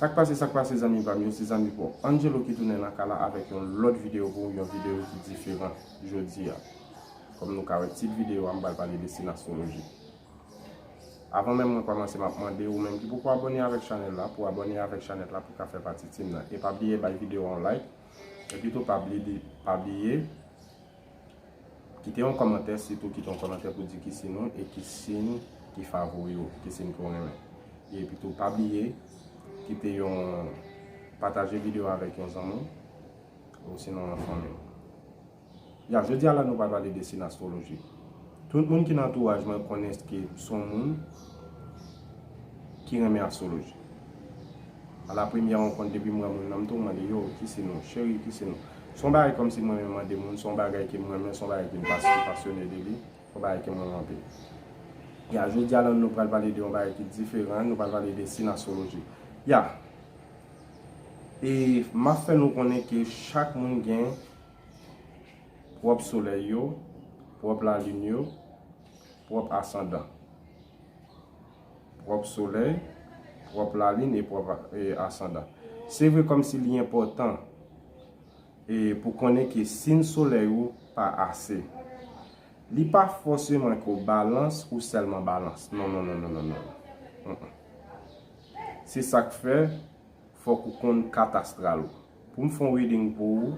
Sak pase sak pase zanmi pam yo se zanmi paw Angelo ki tounen nan ka la avèk yon lòt video pou ou yon video ki diferan jodia kòm nou ka wè tit video a m pral pale de sin astroloji avan menm mwen kòmanse map mande ou menm ki poko abòne avèk chanèl la pou abòne avèk chanèt la pou ka fè pati team nan e pa bliye bay video a yon like epi tou pa bliye Kite yon kòmantè sitou kite yon kòmantè pou di ki siyn ou e ki siyn ki favori ou, ki siyn ke w renmen. Epi tou pa bliye kite yon pataje videyo a avèk yon zanmi w osinon yon fanmi w. Ya jodi a la nou pral pale de siyn astwoloji. Tout moun ki nan antouraj mwen konnen ke m son moun ki renmen astwoloji. A la premyè rankont depi m wè moun nan m tou mande yo ki siyn ou, cheri ki siyn ou. Se yon bagay kòmsi mwen renmen mande moun, se yon bagay ke m renmen, se yon bagay ke m pasyone de li, se yon bagay ke m renmen anpil. Ya, jodi a la nou pral pale de yon bagay ki diferan, nou pral pale de sinaswoloji. Ya, e m ap fè nou konnen ke chak moun gen pwòp solèy yo, pwòp lalin yo, pwòp asandan. pwòp solèy, pwòp lalin e pwòp asandan. Se vre kòmsi li enpòtan e pou konnen ke sin solèy ou pa ase. Li pa fòseman ke w balans ou sèlman balans. Non non non non non non. Se sak fè fòk ou konn kat astral ou. Pou m fon reading pou ou,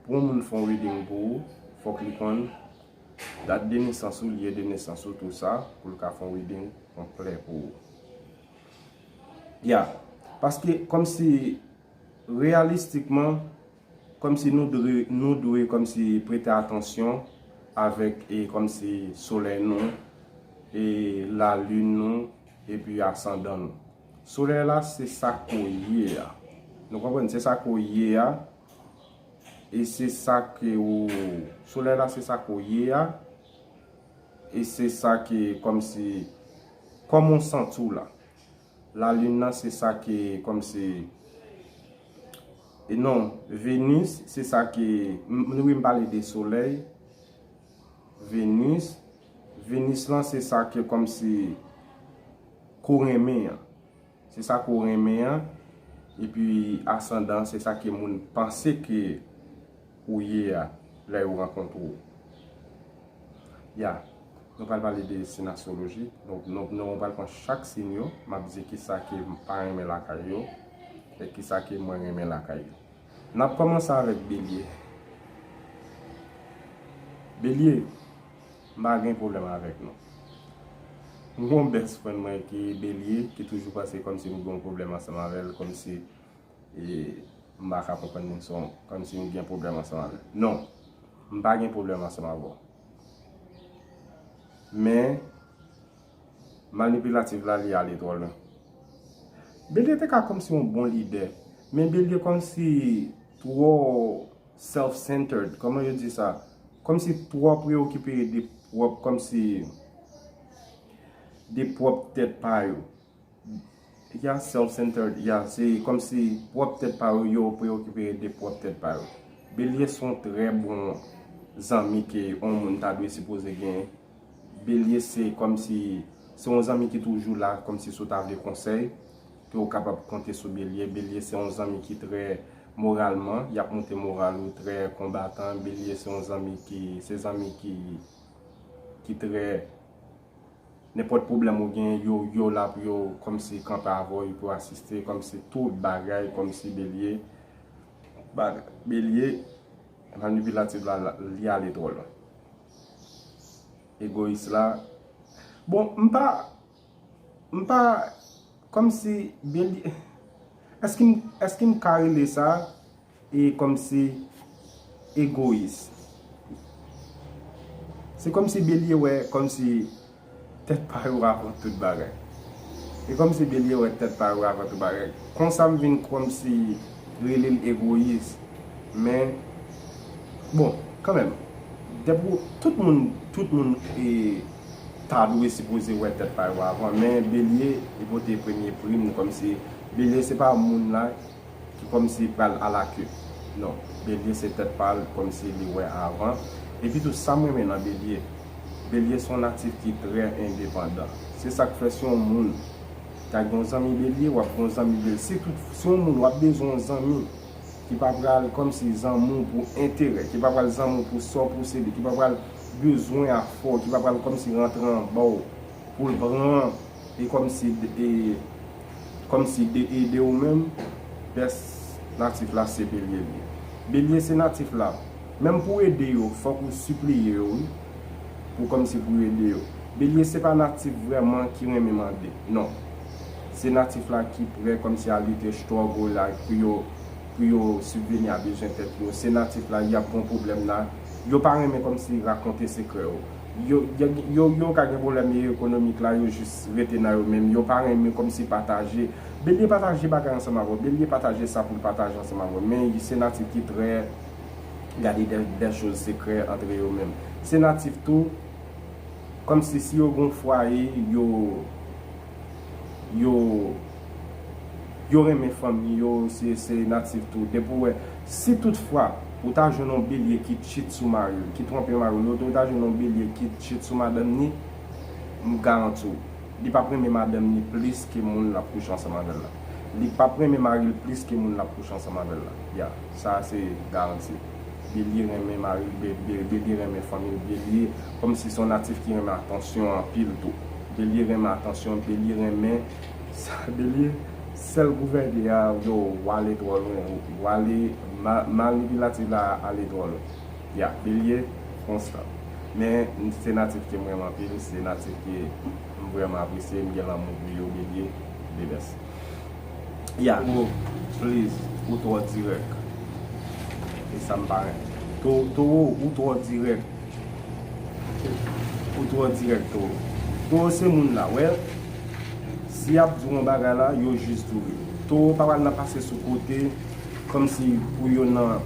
pou yon moun fon reading pou ou, fòk li konn. Dat de nesans ou, lye de nesans ou tou sa pou l ka fon reading konplè pou ou. Ya, paske kòm si reyalistikman, kòm si nou dwe, nou dwe kòm si prete atansyon avèk e kòm si solèy nou, e lalin nou, epi asandan nou. Solèy la se sa ke w ye a. Nou konprann? Se sa ke w ye a. E se sa ke w Solèy la se sa ke w ye a E se sa ke kòm si Kòman w santi w la Lalin nan se sa ke kòm si E non Venus se sa ke Mwen wè m pale de solèy Venus Venus lan se sa ke kòm si Ke w renmen an Se sa ke w renmen an, epi asandan an se sa ke moun panse ke ou ye a lè yo rankontre w. Ya, nou pral pale de sin astroloji, donk nou pral pran chak sin yo, m ap di ki sa ke m pa renmen lakay yo, e ki sa ke mwen renmen lakay yo. N ap kòmanse avèk Belye. Belye. M pa gen pwoblèm avèk nou. M gen yon best friend mwen ki Bélier ki toujou panse kòmsi m gen yon pwoblèm ansanm avè l, kòmsi m pa ka konprann moun sa, kòmsi m gen pwoblèm ansanm avè l. Non, m pa gen pwoblèm ansanm avè w. Men, manipilative la li ale twò lwen. Bélier te ka kòmsi yon bon lidè, men Bélier kòmsi twò. Self centered koman yo di sa komsi twò preokipe de pwòp komsi de pwòp tèt pa yo ya self centered ya se komsi pwòp tèt pa yo yo preokipe de pwòp tèt pa yo Belye se yon trè bon zanmi ke yon moun ta dwe sipoze gen Belye se komsi se yon zanmi ki toujou la komsi si w ta vle konsèy ke ou kapab konte sou Belye, Belye se yon zanmi ki trè moralman, yap moute moral ou, trè konbatan, Belye se yon zanmi ki, se zanmi ki ki trè nenpòt pwoblèm ou gen yo, yo la pou yo kòmsi kanpe avè w, yo pou yo asiste kòmsi tout bagay kòmsi Belye bagay, Belye manipilatif la li ale twò lwen egoyis la bon m pa. M pa, kòmsi, byen di, èske m, èske m ka rele sa, e kòmsi, egoyis? Se kòmsi Belye wè, kòmsi, tèt pa yo avan tout bagay. E kòmsi Belye wè tèt pa yo avan tout bagay. Konsa m vin kòmsi rele l egoyis. Men, bon, kanmenm, depi w, tout moun, tout moun e, ta dwe sipoze wè tèt pa yo avan men Belye e pote premye prim kòmsi Belye se pa moun la ki kòmsi pral ala ke non Belye se tèt pa l kòmsi li wè avan epi tou sa m renmen nan Belye Belye se yon natif ki trè endepandan se sa k fè si yon moun ta gen yon zanmi Belye w ap gen yon zanmi Belye si tout si yon moun w ap bezwen yon zanmi ki pa pral kòmsi zanmi w pou enterè ki pa pral zanmi w pou sa w posede ki pa pral. ti bezwen a fò ki pa pral kòmsi rantre anba w pou l pran e kòmsi e kòmsi de ede w menm pès natif la se belye l ye belye se natif la menm pou ede yo fòk ou sipliye yo wi pou kòmsi pou ede yo belye se pa natif vrèman ki renmen mande non se natif la ki prè kòmsi a lite struggle like pou yo pou yo sibveni a bezwen tèt yo se natif la y ap gon pwoblèm la. Yo pa renmen komsi rakonte sekrè yo. Yo yo yo ka gen pwoblèm e ekonomik la yo jis rete nan yo menm yo pa renmen komsi pataje. Belye pataje bagay ansanm avè w Belye pataje sa pou l pataje ansanm avè w men se natif ki trè gade dè dè choz sekrè antre yo menm. Se natif tou komsi si yo gen yon fwaye yo. yo yo renmen fanmi yo se natif tou depi ou wè si tout fwa ou ta jwenn yon belye ki tchit sou maril ki twonpe maril ou ta jwenn yon belye ki tchit sou madanm ni m garanti w li pap renmen madanm ni plis ke moun lap kouche ansanm avèl la li pap renmen maril plis ke moun lap kouche ansanm avèl la ya sa se garanti. Bélier renmen maril Bélier renmen fanmil Bélier kòmsi son natif ki renmen atansyon anpil tou Bélier renmen atansyon Bélier renmen sa Bélier sèl pou fè gè a yow wale twò lwen wale manipilatif la ale twò lwen ya Bélier konstan men se natif kem renmen anpil se natif ke m vrèman apresye m gen lanmou pou yo Bélier the best. Yeah bro please ou twò dirèk e sam pa renmen Toro ou twò dirèk ou twò dirèk Toro Toro se moun la wè si yap di w yon bagay la yo jis di w li Toro pa pral nan pase sou kote kòm si pou yo nan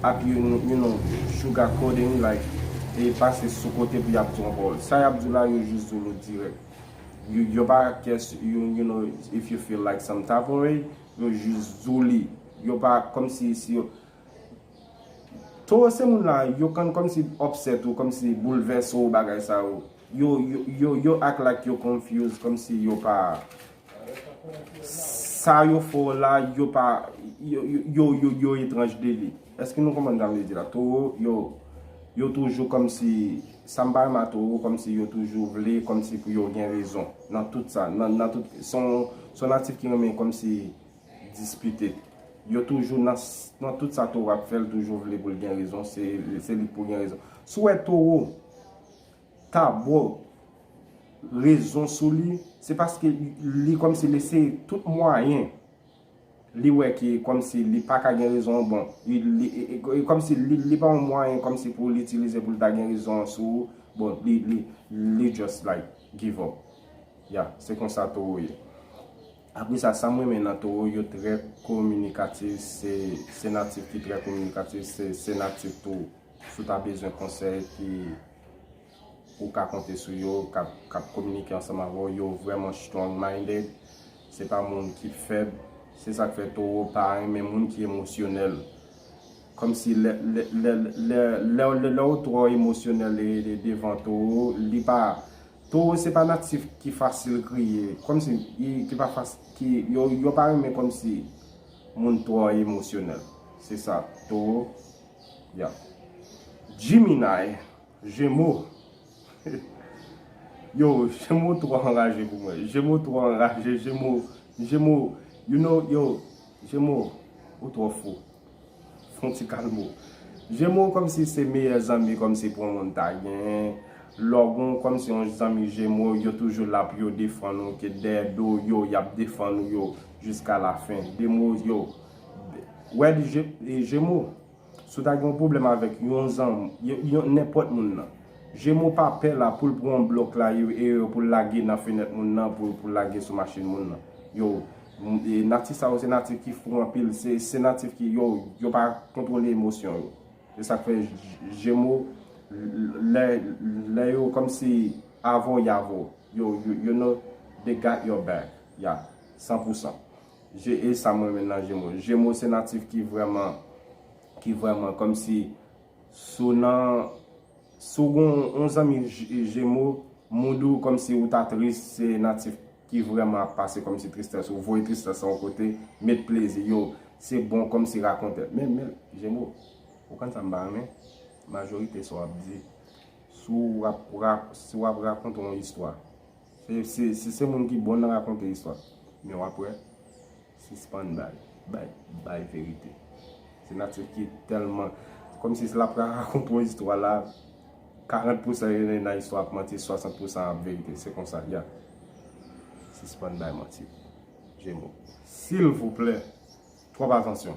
ap you know sugar coating like e pase sou kote pou yap di w yon pawòl sa yap di w la yo jis di w li dirèk. Yon pa kes yon you know if you feel like some type of way yo jis di w li yo pa kom si si yo Toro se moun la yo konn kom si upset ou kom si boulvese w bagay sa yo yo yo yo act like yo confuse kom si yo pa Sa yo fè w la, yo pa, yo, yo, yo etranj de li. Eske nou konprann sa m vle di la? Towo yo, yo toujou kòm si, sa m pa renmen a towo, kòm si yo toujou vle, kòm si pou yo gen rezon nan tout sa, nan, nan tout, se yon, se yon natif ki renmen kòm si dispite. Yo toujou nan, nan tout sa towo ap fè, l toujou vle pou l gen rezon, se li k pou gen rezon. Si w wè towo. ta bo rezon sou li, se paske li kòmsi li eseye tout mwayen li wè ke kòmsi li pa ka gen rezon an bon. E kòmsi li pa yon mwayen kòmsi pou li itilize pou li ta gen rezon an sou ou, bon li just like give up. Ya, se konsa Towo ye. Apre sa, sa m renmen nan Towo, yo trè kominikatif, se natif ki trè kominikatif, se natif tou. Si w ta bezwen konsèy ki ou ka konte sou yo, k ap kominike ansanm avè w, yo vrèman strong minded, se pa moun ki fèb, se sa k fè Towo pa renmen moun ki emosyonèl, kòmsi lè ou twò emosyonèl devan Towo, li pa, Towo se pa natif ki fasil kriye, kòmsi ki pa fasil, yo pa renmen kòmsi moun twò emosyonèl, se sa Towo. Yap. Gemini, Jemo. Yo, Jemo two anraje pou mwen. Jemo two anraje. Jemo, Jemo, you know, yo, Jemo, ou two fou. Fon ti kalmo. Jemo kom si se meyè zanmi kom si pou moun ta gen. Lò gon kom si yon zanmi Jemo, yo toujou la pou yo defan ou, ke dèyè do yo, yap defan ou yo, jiska la fen. Demo, yo. Wed jemo si w ta gen yon pwoblèm avèk yon zanmi nenpòt moun nan jemo pa pè la pou l pran blòk la pou l lage nan fenèt moun nan pou l lage sou machin moun nan yow natif sa yo se natif ki fou anpil se natif ki yow yo pa kontwole emosyon yo se sa k fè jemo lè yo kòm si avè w y avè w yow you know they got your back ya san pou san Je e sam renmen nan jemo. Jemo se natif ki vreman ki vreman komsi sou nan si w gen yon zanmi jemo mood ou komsi ou ta tris se natif ki vreman ap pase komsi tristès ou voye tristès lan yon kote met plezi yo se bon komsi rakonte men men jemo ou konn sa m pa renmen majorite sa w ap di si w ap rakonte yon istwa. Se se moun ki bon nan rakonte istwa men wap wè sispann bay bay verite se natif ki telman kom si lap rakonte yon istwa la 40 pousan nan istwa ap manti 60 pousan ap verite se konsa ya sispann bay manti jemo silvouplè twòp atansyon.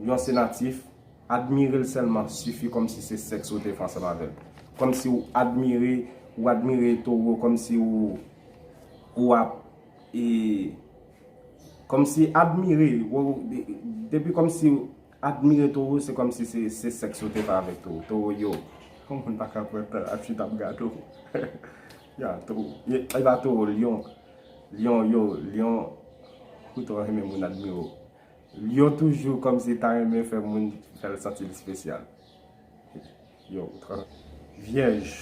Yon se natif, admire l sèlman sifi kòmsi se sèks ou te fè ansanm avè l. Kòmsi ou admire, ou admire towo kòmsi ou ou ap e kòmsi admire ou depi kòmsi ou admire towo se kòmsi se sèks ou te fè avèk towo. Towo yo. Yon moun pa ka pran tan ap chita ap gad ou. Ya towo. E pa towo, lyon. Lyon yo, lyon ou tro renmen moun admire w. Lion toujou kòmsi ta renmen fè moun fèl santil spesyal yow ou trò vyèj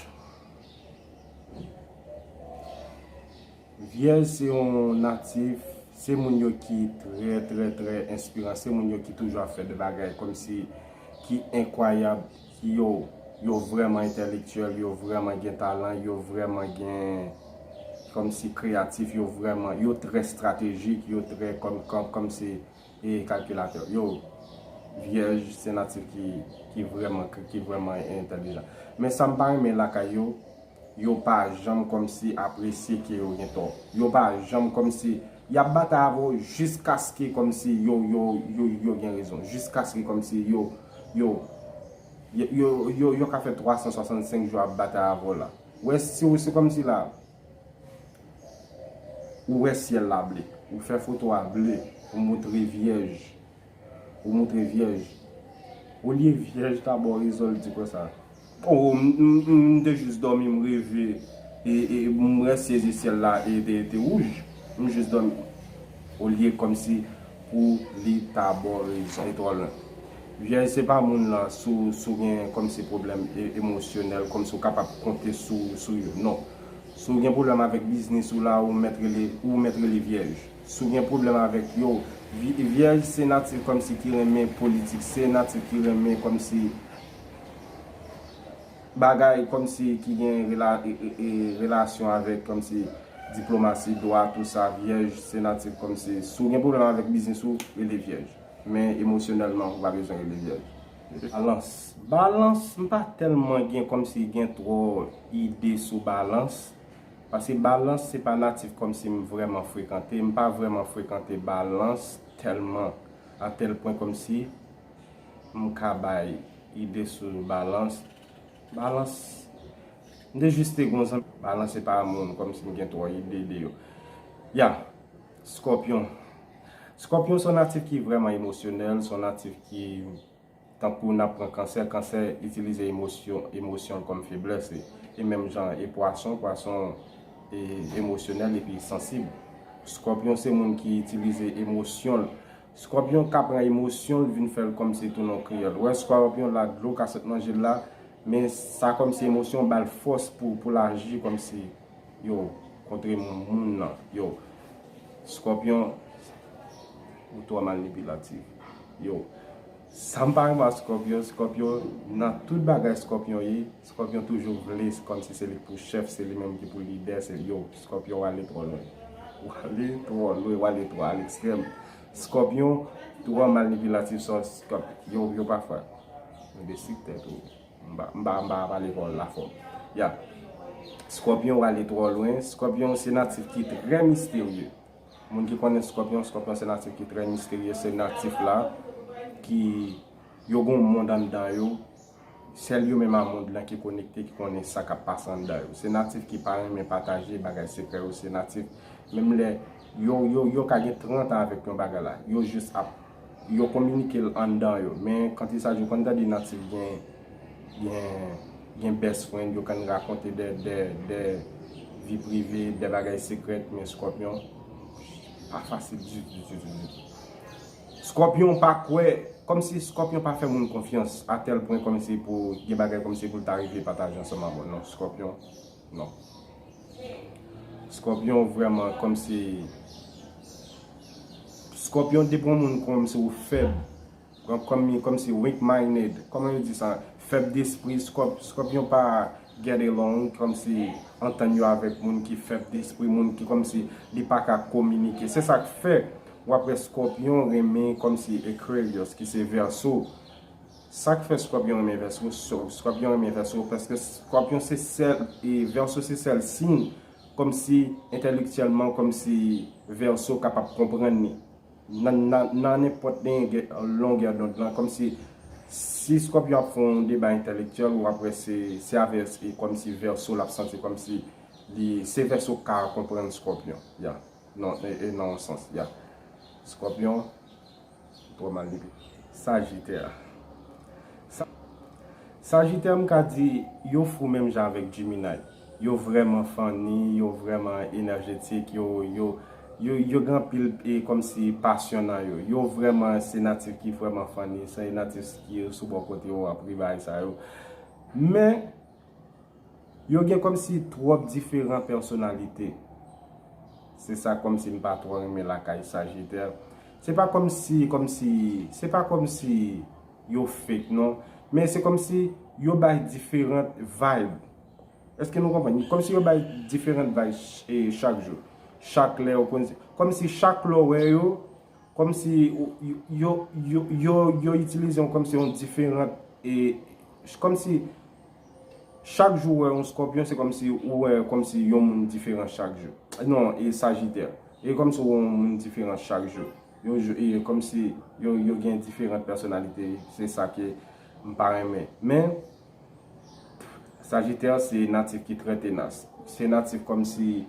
vyèj se yon natif se moun yo ki trè trè trè enspiran se moun yo ki toujou ap fè de bagay kòmsi ki enkwayab Yo, yo vrèman entèlektyèl, yo vrèman gen talan, yo vrèman gen, kòm si kreyatif, yo vrèman, yo trè estratejik, yo trè, kòm, kòm, kòm si, e kalkilatè. Yo, Vyèj se natif ki, ki vrèman, ki vrèman entèlijan. Men sa m pa renmen lakay yo, yo pa janm kòm si apresye ke yo gen tò. Yo pa janm kòm si, y ap batay avè w jiskaske kòm si yo, yo, yo, yo gen rezon. Jiskaske kòm si yo. Yo yo yo ka fè 365 jou ap batay avèw la wè si ou se kòmsi la ou wè syèl la ble ou fè foto a ble ou moutre vyèj ou moutre vyèj olye vyèj ta baw rezon l di konsa. Oh m te jus domi m reve e m we siège ciel la te rouge m jus domi oh liye komsi pou li ta bon rezon li tro lwen vyèj se pa moun lan sou gen komsi problem emosyonel komsi ou kapab konte sou yo non sou gen problem avek biznis ou la ou met rele ou met rele vyèj sou gen problem avek yo vyèj se natif komsi ki renmen politik se natif ki renmen komsi. bagay kòmsi ki gen relasyon avèk kòmsi diplomasi, dwa, tout sa, vyèj se natif kòmsi si w gen pwoblèm avèk biznis ou, rele vyèj. Men emosyonèlman ou pa bezwen rele vyèj. Balans Balans m pa tèlman gen kòmsi gen twò ide sou balans paske balans se pa natif kòmsi m vrèman frekante, m pa vrèman frekante balans tèlman a tèl pwen kòmsi. m ka bay ide sou balans, balans, m te jis te gon zanmi, balans se pa moun, kòm si m gen twò ide de yo. Ya, skòpyon, skòpyon son natif ki vrèman emosyonèl, son natif ki, tankou nan pwen kansè, kansè itilize emosyon, emosyon kòm feblès li, e menm jan e pwason, pwason e emosyonèl epi sansib. Skòpyon se moun ki itilize emosyon l Scorpion ka pran emosyon l vin fèl kòmnse tounen yon kriyòl. Wè scorpion la dlo ka sot nan jel la men sa kòmnse emosyon an bal fòs pou poul aji kòmnse yo kontre moun nan yo scorpion ou twò malnipilativ yo sam pa renmen ak scorpion scorpion nan tout bagay scorpion ye Scorpion toujou vle komsi se lik pou chef se li menm ki pou lidè se yow scorpion wale tro lwen wale tro lwen wale tro a lekstrèm scorpion tro manipilatif son scorp yow yo pafwa enbesil tèt ou mpa mpa mpa pale kòl la fò ya scorpion wale tro lwen scorpion se natif ki trè misterye moun ki konnen scorpion scorpion se natif ki trè misterye se natif la ki yo gon mond anndan yo Sèl yo menm a mond lan ki konekte ki konnen sa kap pase anndan yo. Se natif ki pa renmen pataje bagay sekrè yo, se natif menm lè yo ka gen 30 an avèk yon bagay la, yo jis ap yo kominike l anndan yo. Men kantisa yo konn tande natif gen gen best friend, yo konn rakonte de vi prive, de bagay sekrè men Scorpion pa fasil ditou ditou ditou. Scorpion pa kwè, kòmsi scorpion pa fè moun konfyans a tèl pwen kòmsi pou gen bagay kòmsi poul ta rive pataje ansanm a bon non scorpion non scorpion vrèman kòmsi scorpion depi yon moun kòmsi ou fèb kòmsi weak minded kòman yo di sa fèb despri scorpion pa Get along kòmsi antann yo avèk moun ki fèb despri, moun ki kòmsi li pa ka kominike. Se sa k fè w ap wè Skòpyon renmen kòmsi Aquarius ki se Vèso. Sa k fè Skòpyon renmen Vèso? Skòpyon renmen Vèso paske Skòpyon se sèl e Vèso se sèl siy kòmsi entèlektyèlman kòmsi Vèso kapab konprann li. Nan nenpòt longèdond lan, kòmsi si Scorpion ap fè yon deba entèlektyèl, ou ap wè se avè kòmsi Verseau l ap santi kòmsi li, se Verseau k ka konprann Scorpion, ya, nan yon sans, ya. Scorpion, twò mal dekri. Sagittaire. Sagittaire m ka di yo fou menm jan avèk Gemini. Yo vrèman funny, yo vrèman enerjetik, yo yo yo yo gen anpil e kòmsi pasyon nan yo. Yo vrèman se natif ki vrèman funny, se natif ki sou bò kote yo ap ri bagay sa yo. Men, yo gen kòmsi twòp diferan pèsonalite. Se sa kòmsi m pa twò renmen lakay Sajitè. Se pa kòmsi, kòmsi, se pa kòmsi yo fake non, men se kòmsi yo bay diferant vibe. Eske nou konprann? Kòm si yo bay diferant vayb chak jou. Chak lè yo konn se. Kòm si chak lè w wè yo, kòm si yo itilize yon kòm si yon diferant e. Kòm si chak jou wè yon skòpyon se kòm si ou wè kòm si yon moun diferant chak jou. Non, e sajitè. E kòm si ou wè yon moun diferant chak jou. Yo jou e kòm si yo gen diferant pèsonalite. Se sa ke m pa renmen. Men. Sajitè se natif ki trè tenas. Se natif kòm si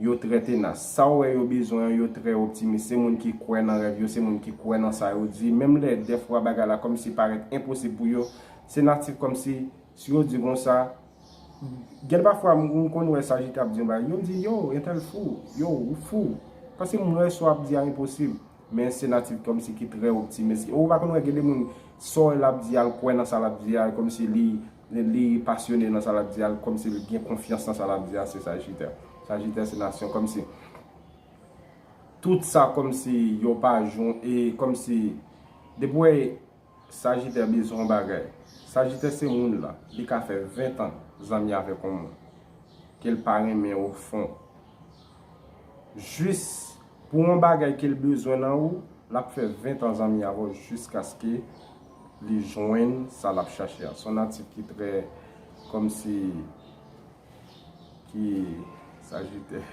yo trè tenas. Sa ou wè yo bezwen an, yo trè optimis. Se moun ki kwè nan rèv yo, se moun ki kwè nan sa yo di. Menm lè dèfwa bagay la kòm si parèt enposib pou yo, se natif kòm si, si yo di konsa, gen pa fwa m konn wè sajitè ap di yon bagay, yo di, yow, entèl fou, yow, ou fou. Paske m wè sa w ap di a enposib. Men se natif komsi ki trè optimis. Ou pa konn wè gen de moun sa w wè l ap di a l kwè nan sa l ap di a e komsi li li pasyone nan sa l ap di a l komsi li gen konfyans nan sa l ap di a se sajitè. Sajitè se nasyon komsi tout sa komsi yo pa jwenn e komsi depi w wè Sajitè bezwen yon bagay. Sajitè se moun la, li ka fè 20 tan zanmi avèk yon moun, ke l pa renmen o fon. Jis pou yon bagay ke l bezwen nan ou, l ap fè 20 tan zanmi avè w jiskaske li jwenn sa l ap chache a. Se yon natif ki trè kòmsi, ki, sajitè.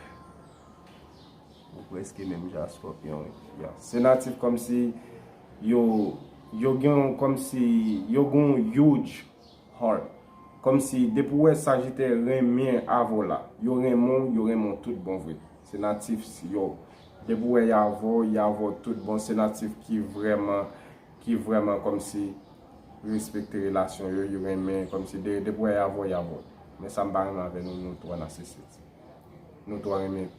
Ou preske menm jan ak scorpion wi fi a. Se natif komsi yo yo gen yon komsi yo gen yon huge heart. Komsi depi ou wè sajitè renmen avè w la, yo renmen w, yo renmen w tout bon vre. Se natif yo depi ou wè y avè w, y avè w tout bon. Se natif ki vreman ki vreman komsi respekte relasyon yo, yo renmen komsi depi ou wè y avè w, y avè w. Men sa m pa renmen avè nou nou two narcisit. Nou two renmen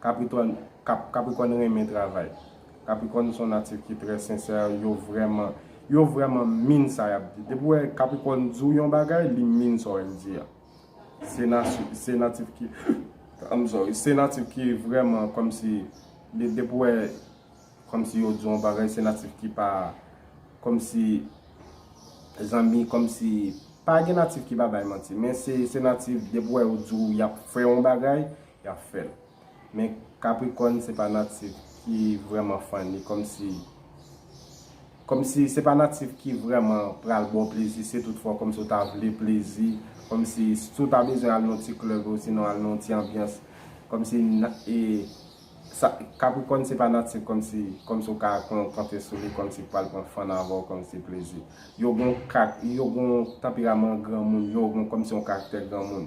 Kapritòn Kaprikòn renmen travay Kaprikòn son natif ki trè sensè yo vrèman yo vrèman min sa yap di depi ou wè Kaprikòn di w yon bagay li min sa w wè l di a se nati se natif ki I'm sorry se natif ki vrèman kòmsi li depi ou wè kòmsi yo di w yon bagay se natif ki pa kòmsi zanmi kòmsi pa gen natif ki pa bay manti men se se natif depi ou wè yo di w yap fè yon bagay yap fèl men capricorn se pa natif ki vrèman funny kòmsi kòmsi se pa natif ki vrèman pral baw plezi se tout fwa kòmsi ou ta vle plezi kòmsi si ou ta bezwen al nan yon ti club osinon al nan yon ti anbyans kòmsi e sa capricorn se pa natif kòmsi kòmsi ou ka pran konte sou li kòmsi pral pran fun avèw kòmsi plezi yo gon kak yo gon tanperaman granmoun yo gon kòmsi yon karaktè granmoun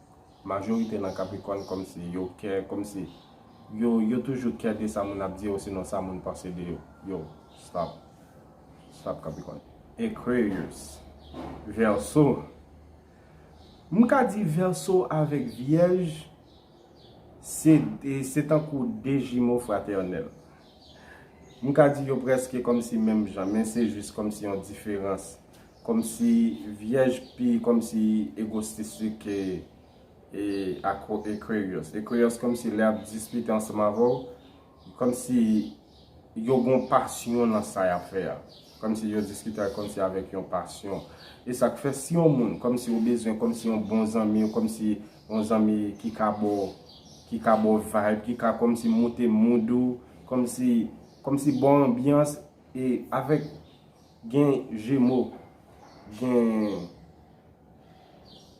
Majorite nan Capricorn komsi yo kè komsi yo yo toujou kè de sa moun ap di osinon sa moun panse de yo yo stop stop Capricorn. Aquarius Verso M ka di Verso avèk Vyèj se se tankou de jimo fratènèl M ka di yo prèske komsi menm jan men se jis komsi yon diferans Komsi vyèj pi komsi egostistik ke Aquarius. Aquarius komsi lè yap diskite ansanm avè w, komsi yo gon pasyon nan sa yap fè a. Komsi yo diskite komsi avèk yon pasyon. E sak fè si yon moun komsi ou bezwen komsi yon bon zanmi, komsi yon zanmi ki ka ba w, ki ka ba w vibe, ki ka komsi moute mood ou, komsi, komsi ba w anbyans e avèk Gen jemo gen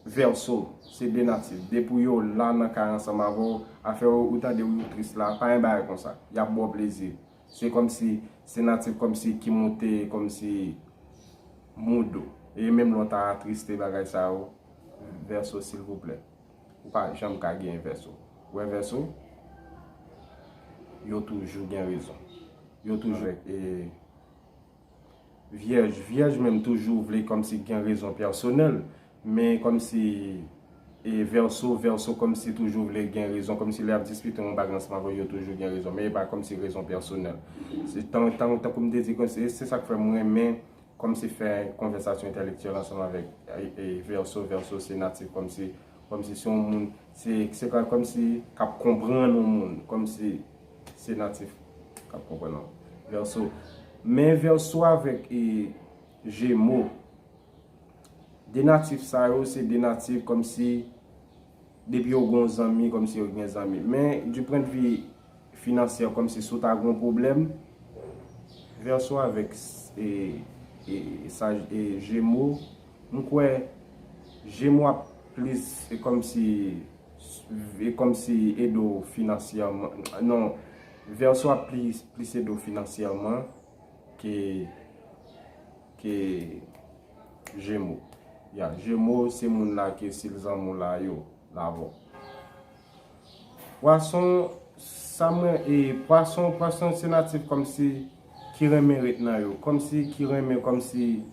vèso se 2 natif depi yo la nan kay ansanm avèw afè ou tande yo tris la pa gen bagay konsa yap baw plezi se kòmsi se natif kòmsi ki moute kòmsi mood ou e menm lè ou ta atriste bagay sa yo vèso silvouplè ou pa janm ka gen vèso ou wè vèso yo toujou gen rezon yo toujou e Vyèj vyèj menm toujou vle kòmsi gen rezon pèsonèl men kòmsi e vèso vèso kòmsi toujou vle gen rezon kòmsi lè yap diskite yon bagy ansanm avèw yo toujou gen rezon men epa kòmsi rezon pèsonèl se tan tan tankou m te di kòmsi se sak fè m renmen kòmsi fè konvèsasyon entèlektyèl ansanm avèk e vèso vèso se natif kòmsi kòmsi se yon moun se se kòmsi kap konprann yon moun kòmsi. Se natif kap konprann lan. Verso. Men verso avek e jemo. De natif sa yo se de natif kom si depi yo gon zanmi kom si yo gen zanmi. Men di pwen de vi finansye kom si sou ta gon pwoblem. Verso avek e saj e jemo. M kwe jemo ap plis se kom si. Kòm si ede w finansyèman. Non, Vèso ap plis ede w finansyèman ke Jemo. Ya, Jemo se moun la ke si l zanmi w la yo lavou. Pwason, sa mwen e, pwason, pwason se natif kòm si ki renmen ret nan yo. Kòm si ki renmen, kòm si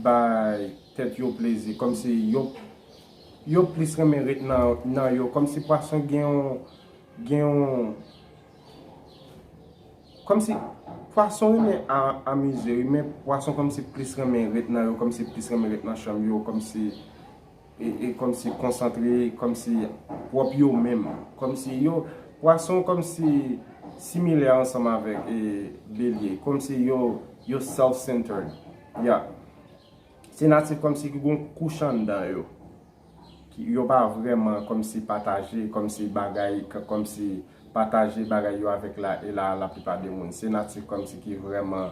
bay tèt yo plezi kòmsi yo yo plis renmen ret nan yo kòmsi pwason gen yon gen yon kòmsi pwason renmen amize wi men pwason kòmsi plis renmen ret nan yo kòmsi plis renmen ret nan chanm yo kòmsi. e kòmsi konsantre kòmsi pwòp yo menm kòmsi yo pwason kòmsi similè ansanm avèk e belye kòmsi yo yo self centered ya se natif kòmsi ki gon kouch anndan yo ki yo pa vrèman kòmsi pataje kòmsi bagay kòmsi pataje bagay yo avèk la e la laplipa de moun se natif kòmsi ki vrèman.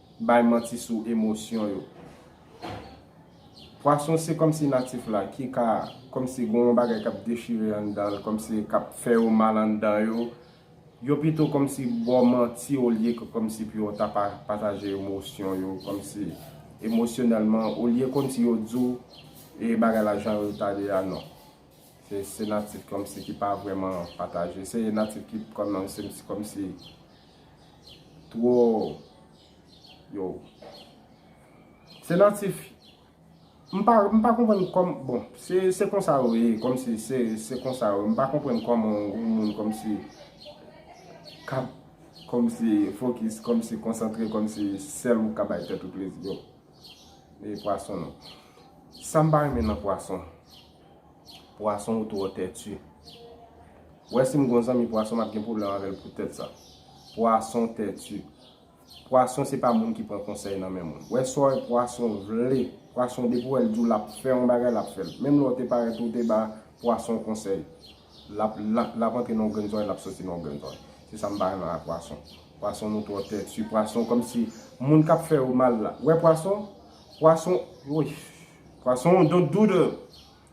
bay manti sou emosyon yo. Pwason se kòmsi natif la ki ka kòmsi gen yon bagay k ap dechire anndan l, kòmsi k ap fè yo mal anndan yo, yo pito kòmsi ba w manti olye ke kòmsi pou yo ta pataje emosyon yo, kòmsi emosyonèlman, olye kòmsi yo di w e bagay la jan yo ta ye a, non. Se natif kòmsi ki pa vrèman pataje. Se natif ki kòmsi Twò Yow Se natif M pa m pa konprann kòm bon se se konsa yo ye kòmsi se se konsa yo m pa konprann kòman yon moun kòmsi kab kòmsi fokis kòmsi konsantre kòmsi sèl ou ka bay tèt ou plezi yow e pwason non sa m pa renmen nan pwason Pwason ou twò tètu. Wè si m gon zanmi pwason m ap gen pwoblèm avè l poutèt sa. Pwason tètu. Pwason se pa moun ki pran konsèy nan men moun. Wè sa pwason vle. Pwason depi w wè l di w l ap fè yon bagay l ap fè l. Menm lè w te parèt ou te ba pwason konsèy, l ap l ap antre nan yon grenn zòrèy l ap soti nan yon grenn zòrèy. Se sa m pa renmen ak pwason. Pwason nou twò tètu. Pwason kòmsi moun k ap fè yo mal la. Wè pwason? Pwason woy. Pwason don't do the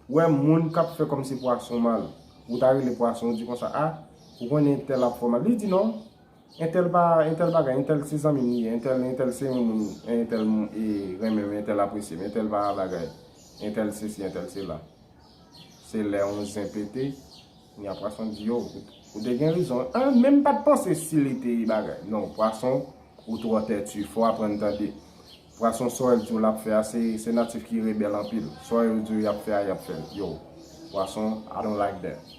wè moun kap fè kòmsi pwason mal ou ta rele pwason ou di konsa ah ou konnen entèl ap fò mal li di non entèl pa entèl bagay entèl se zanmim li ye entèl entèl se yon moun entèl renmenm entèl apresyem entèl pa bagay entèl sesi entèl sela se lè yon zen pete nya pwason di yo ou te gen rezon ah menm pat panse si li te bagay non pwason ou twò tètu fò aprann tande Vwa son soil diw lap fè a se natif ki rebèl anpil soil diw yap fè a yap fèl yow vwa son I don't like that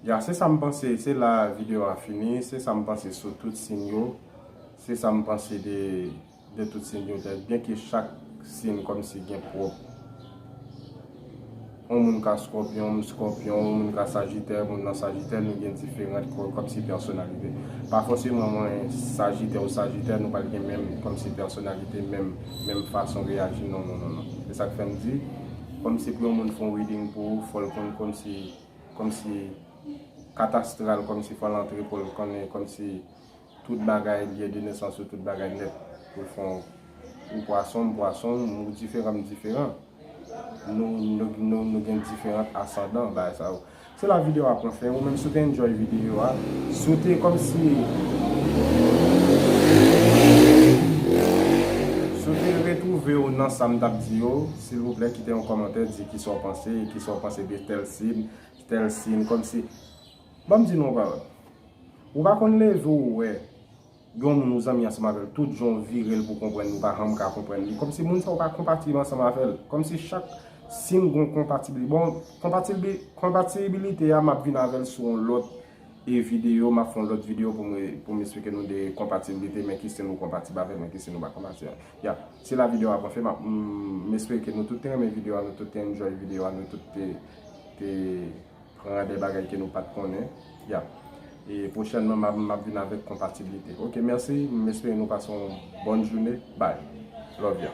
ya se sam panse se la video a fini se sam panse sou tout sin yo se sam panse de de tout sin yo byen ke chak sin kòmsi gen pwòp On moun ka Scorpion, m Scorpion, on moun ka Sagittaire, moun nan Sagittaire, nou gen diferant kòmsi pèsonalite. Pa fòseman mwen Sagitè ou Sagittè nou pral gen menm kòmsi pèsonalite, menm menm fason reyaji non non non non. Se sak fèm di, kòmsi pou yon moun fon reading pou ou fòl konn kòmsi kòmsi kat astral kòmsi fòl antre poul konnen kòmsi. Tout bagay byen de nesans yo tout bagay nèt pou fon ou pwason m pwason w ou diferan m diferan nou gen diferant asandan bagay sa yo se la video a pran fen ou menm si w te enjoy video a si w te kòmsi si w te retwouve w nan sa m tap di yo silvouplè kite yon kòmantè di kisa w panse kisa w panse de tèl sin tèl sin kòmsi. Ban m di nou yon bagay. Ou pa konn leve ou wè gen yon moun ou zanmi ansanm avè l, tout jan w vire l pou w konprann li, ou pa janm ka konprann li. Kòmsi moun sa a ou pa konpatib ansanm avè l. Kòmsi chak si'n gen yon konpatibli. Bon, konpatibi, konpatibilite a m'ap vin avè l sou yon lòt e videyo, m'ap fè yon lòt videyo pou m e, pou m esplike nou de konpatibilite, men ki si'n ou konpatib avè l, men ki si'n ou pa konpatib avè l. Ya. Se la videyo a pran fen. M'ap, m'espere ke nou tout te renmen videyo a, nou tout te enjoy videyo a, nou tout te, te. Pran de bagay ke nou pat konnen. Yap. E pwochènman map map vin avèk konpatiblite. Ok mèsi m espere nou pase yon bòn joune bby. Love ya.